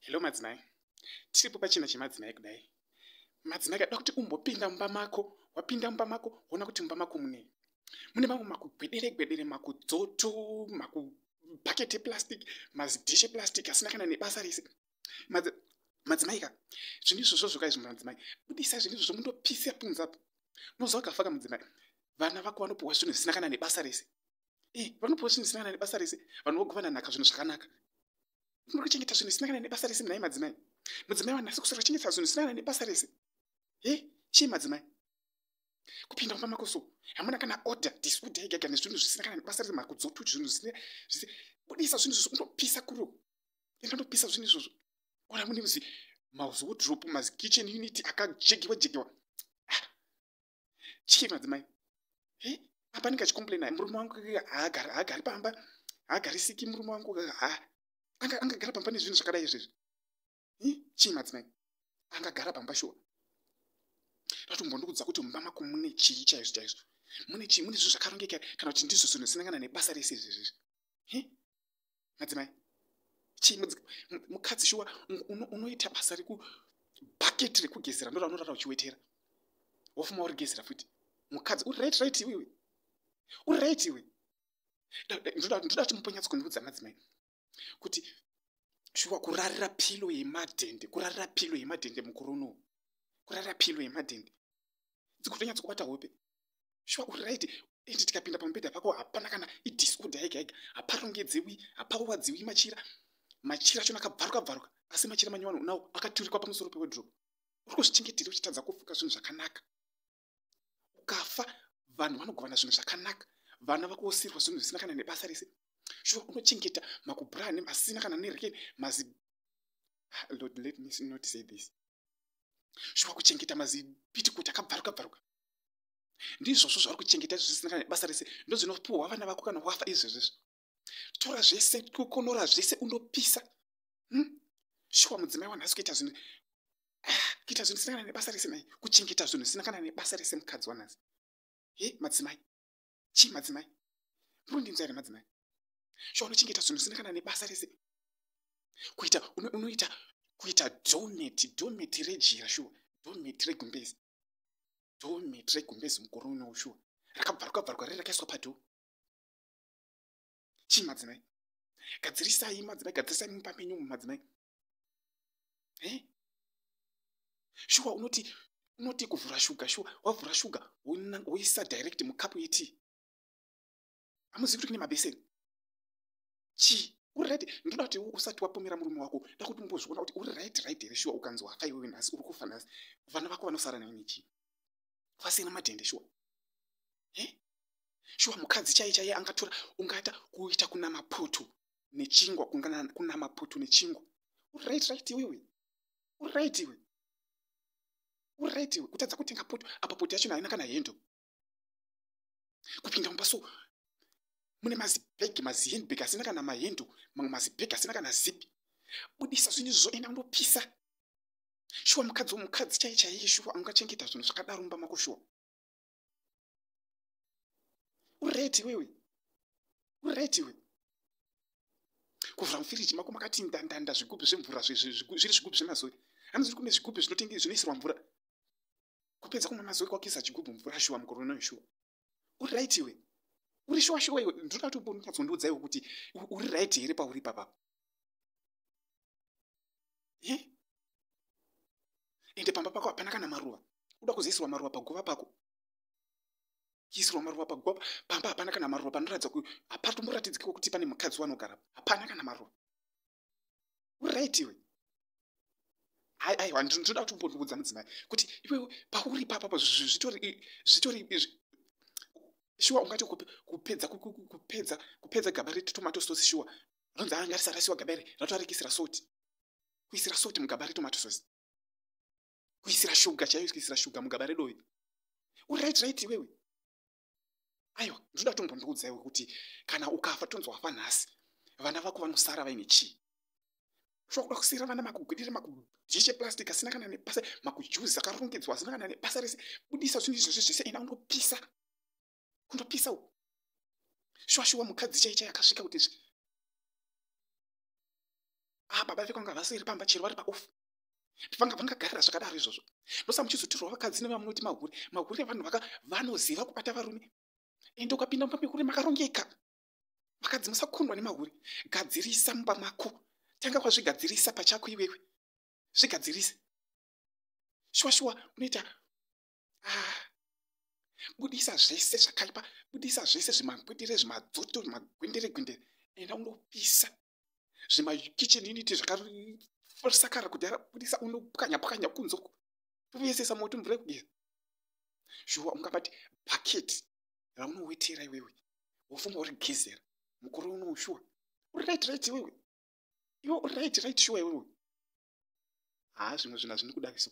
hello madzimai tiripo pachina chemadzimai kudai madzimai kada kuti umbopinda mumba mako wapinda mumba mako woona kuti mumba mako munei mune mamwe makugwedere gwedere makudzoto makubhaketi eplastic mazidhishe plastic asina kana nebasa rese madzimai ka zvinhu izvozvo zvoka izvo madzimai budisa zvinhu izvozvo mundopisa punzapo unoziva kafaka mudzimai vana vako vanopiwa zvinhu zvisina kana nebasa rese ii vanopiwa zvinhu zvisina kana nebasa rese vanhu vogovana nhaka zvinhu zvakanaka muri kuchengeta zvinhu zvisina kana nebasa rese munai madzimai mudzimai wanasi kusara chengeta zvinhu zvisina kana nebasa rese he chii madzimai kupinda kumba mako so hamuna kana order diskuda igaga nezvinhu zvisina kana nebasa rese makudzotu zvinhu zvisina budisa zvinhu izvozvo unopisa kuro enda ndopisa zvinhu izvozvo ora mune muzi mauzodrop mazikitchen unity akajegiwa jegiwa chii madzimai he apa ndinga chikomplaina murume wangu haagari haagari pamba haagarisiki murume wangu ha anga angagara pamba nezvinhu zvakadai izvezvi he chii madzimai angagara pamba shuwa ratombondikudza kuti mumba mako mune chii chaizvo chaizvo mune chii mune zvinhu zvakarongeka kana kuti ndizvo zvinhu zvinangana nebasa rese izvezvezvi he madzimai chii mukadzi shuwa unoita basa rekubucket rekugezera ndora unorara uchiwetera wofuma uri gezera futi mukadzi uri right right iwe uri right iwe ndoda kuti muponyatsokundiudza madzimai kuti shuwa kurarira pilo yemadhende kurarira pilo yemadhende mukuru unowu kurarira pilo yemadhende dzikutonyatso kubata hope shuwa uri right ende tikapinda pamubhedha pako hapana kana idisorder yega yega haparongedzewi hapawadziwi machira machira acho akabvaruka bvaruka asi machira manyowano unawo akaturikwa pamusoro pewedrop uri kuzvichengetera uchitadza kufuka zvinhu zvakanaka ukafa vanhu vanogovana zvinhu zvakanaka vana vakuosirwa zvinhu zvisina kana nebasa rese shuwa unochengeta makubrane masina kana nereken mazi ah, lord let me not say this shuwa kuchengeta mazipitikuti akabvaruka bvaruka ndizvozvo zvauri kuchengeta izvi zvisina kana basa rese ndozvinopuhwa vana vako kana wafa izvezvezvo tora zvese kukonora zvese unopisa hmm? shuwa mudzimai wanhasi kuita zvinhu ah, kuita zvinhu zvisina kana nebasa rese mai kuchengeta zvinhu zvisina kana nebasa rese mukadzi wanhasi he madzimai chii madzimai murundinzwa here madzimai shuwa unochengeta zvinhu zvisina kana nebasa rese kuita unoita kuita doneti doneti rejira shuwa doneti regumbezi dhoo miti regumbezi mukore uno ushuwa rakabvarwa bvarwa riri rakaiswa padhoo chii madzimai gadzirisai madzimai gadzirisai mumba menyu mu madzimai e shuwa unoti unoti kuvhura shuga shuwa wavhura shuga woisa direct mukapu yetii amuzivi kuti kune mabeseni chii uri right ndoda kuti usati wapomera murume wako da kuti umbozviona kuti uri right right here shuwa ukanzi wafa iwewe nhasi uri kufa nhasi vana vako vanosara nai nechii vasina madhende shuwa he shuwa mukadzi chaiye chaiye angatora ungata kuita kuna maputu nechingwa kuna maputu nechingwa uri right right iwewe uri right iwe uri right iwe kutadza kutenga poto apa poto yacho naina kana hendo kupinda mumba so mune mazibhegi mazihendbhegi asina kana mahendu mamwe mazibhegi asina kana zipi budisa zvinhu izvo enda undopisa shuwa mukadzi womukadzi chaiye chaiye shuwa angachengeta zvinhu zvakadaro mumba mako shuwa ureti wewe ureti wewe kuvhura mufiriji mako makati ndandanda zvigubhu zvemvura zviri zvigubhu zvemazoe hanzi kune zvigubhu zvinoisirwa mvura kupedza kumwa mazoe kwakisa chigubhu mvura shuwa mukore unoyo shuwa uri right iwe uri shuwa shuwa iwe ndoda kuti umbonyatsondiudzaiwo kuti uri right here pauri papapo e ende pamba pako hapana kana maruva uda kuzoisirwa maruva paguva pako chiisirwa maruva paguva pamba hapana kana maruva panoratidza kuti hapatomboratidzikewo kuti pane mukadzi wanogarapa hapana kana maruva uright iwe aiwa ndinoda kuti umbondiudza mudzimai kuti iwe pauri papapa zvitori zvitori shuwa ungati kupedza kupedza kupedza gaba retomato sauce shuwa ronzi anga risarasiwa gaba iri ratoarekisira soti kuisira soti mugaba retomato sauce kuisira shuga chaiyo kuisira shuga mugaba redovi uright right iwewe aiwa ndinoda kuti mumbondiudzaiwo kuti kana ukafa tonzi wafa nhasi vana vako vanosara vaine chii shokuda kusiyira vana makugwidira makudhishe plastic asina kana nepasa makujuzi akarongedzwa asina kana nepasa rese budisa zvinhu izvozvi zvese ina unopisa unopisa u shuwashuwa mukadzi chaicha yakasvika kuti zvi a ah, baba vekwanga vasiri pamba chero vari paofu vanga vangagarira zvakadaro izvozvo ndosa muchizotirwa vakadzi nevamunoti mahure mahure vanhu vaka vanoziva kubata varume ende ukapinda mumba mehure makarongeka vakadzi musakundwa nemahure gadzirisa mumba mako tanga kwazvigadzirisa pachako iwewe zvigadzirise shuwa shuwa unoita ah. budisa zvese zvakaipa budisa zvese zvimangwendere zvimadzoto zvimagwendere gwendere enda unopisa zvimakitchen unity zvakasakara kudhara budisa unopwanya pwanya kunze uko topesesa moto mvura yekugeza shuwa ungabati bucket raunowetera iwewe wofunga uri gezera mukore unowu shuwa uri right right iwewe iwe uri right right shuwa iwewe haa zvimwe zvinhu hazvini kudaviso